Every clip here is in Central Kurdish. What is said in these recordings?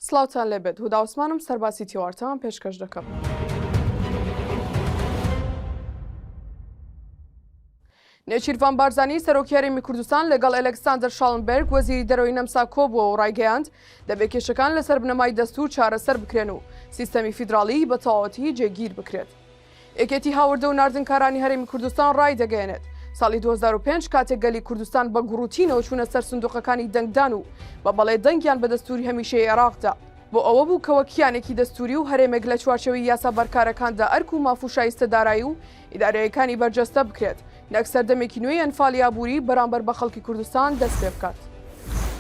سڵاوتان لێبێت هودا عوسمانم سەرباسی تیوارتان پێشکەش دەکەم. نێچیرڤان بارزانی سەرۆکی هەرێمی کوردستان لەگەڵ ئەلکساندەر شاڵنبرگ وەزیری دەرەوەی نەمسا کۆبووە و ڕایگەیاند دەبێ کێشەکان لەسەر بنەمای دەستور چارەسەر بکرێن و سیستەمی فیدراڵیی بە تەواوەتی جێگیر بکرێت. یەکێتی هاوردە و ناردنکارانی هەرێمی کوردستان ڕایدەگەیەنێت، ساڵی دوو هەزار و پێنج کاتێک گەلی کوردستان بە گوڕوتینەوە چوونە سەر سندوقەکانی دەنگدان و بە بەڵێ دەنگیان بە دەستووری هەمیشەیی عێراق دا، بۆ ئەوە بوو کە وەک کیانێکی دەستووری و هەرێمێک لە چوارچێوەی یاسا بەرکارەکاندا ئەرک و ماف و شایستەدارایی و ئیدارییەکانی بەرجەستە بکرێت، نەک سەردەمێکی نوێی ئەنفالی ئابووری بەرامبەر بە خەڵکی کوردستان دەست پێ بکات.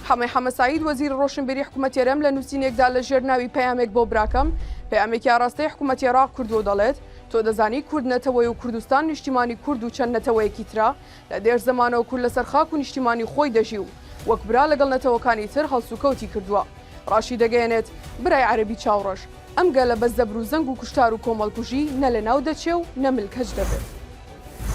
حەمەی حەمە سەعید وەزیری ڕۆشنبیری حکوومەتی هەرێم لە نووسینێکدا لە ژێر ناوی پەیامێک بۆ براکەم پەیامێکی ئاراستەی حکوومەتی عێراق کردووە و دەڵێت تۆ دەزانی کورد نەتەوەیە و کوردستان نیشتیمانی کورد و چەند نەتەوەیەکی ترە لە دێر زەمانەوە کورد لەسەر خاک و نیشتیمانی خۆی دەژی و وەک برا لەگەڵ نەتەوەکانی تر هەڵسوکەوتی کردووە. ڕاشیدەگەیەنێت برای عەرەبی چاوڕەش، ئەم گەلە بە زەبر و زەنگ و کوشتار و کۆمەڵکوژی نە لەناو دەچێ و نە ملکەچ دەبێت.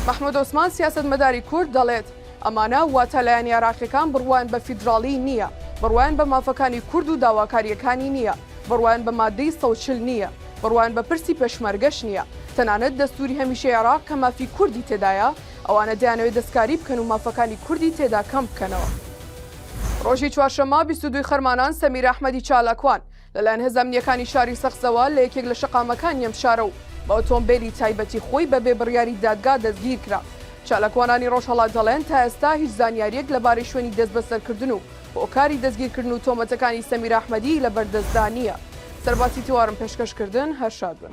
مەحموود عوسمان، سیاسەتمەداری کورد دەڵێت، ئەمانە واتە لایەنە عێراقییەکان بڕوایان بە فیدراڵیی نییە، بڕوایان بە مافەکانی کورد و داواکارییەکانی نییە، بڕوایان بە ماددەی سەد و چل نییە، بڕوایان بە پرسی پێشمەرگەش نییە. تەنانەت دەستووری هەمیشەی عێراق کە مافی کوردی تێدایە، ئەوانە دەیانەوێت دەستکاری بکەن و مافەکانی کوردی تێدا کەم بکەنەوە. ڕۆژی چوارشەممە بیست و دوو ی خەرمانان سەمیرە ئەحمەدی چالاکوان، لەلایەن هێزە ئەمنییەکانی شاری سەقزەوە لە یەکێک لە شەقامەکانی ئەم شارە و بە ئۆتۆمبێلی تایبەتی خۆی بەبێ بڕیاری دادگا دەستگیرکرا. چالاکوانانی رۆژهەڵات دەڵێن، تا ئێستا هیچ زانیارییەک لەبارەی شوێنی دەستبەسەرکردن و هۆکاری دەستگیرکردن و تۆمەتەکانی سەمیرە ئەحمەدیی لەبەردەستدا نییە. سەرباسی تیوارم پێشکەش کردن، هەر شاد بن.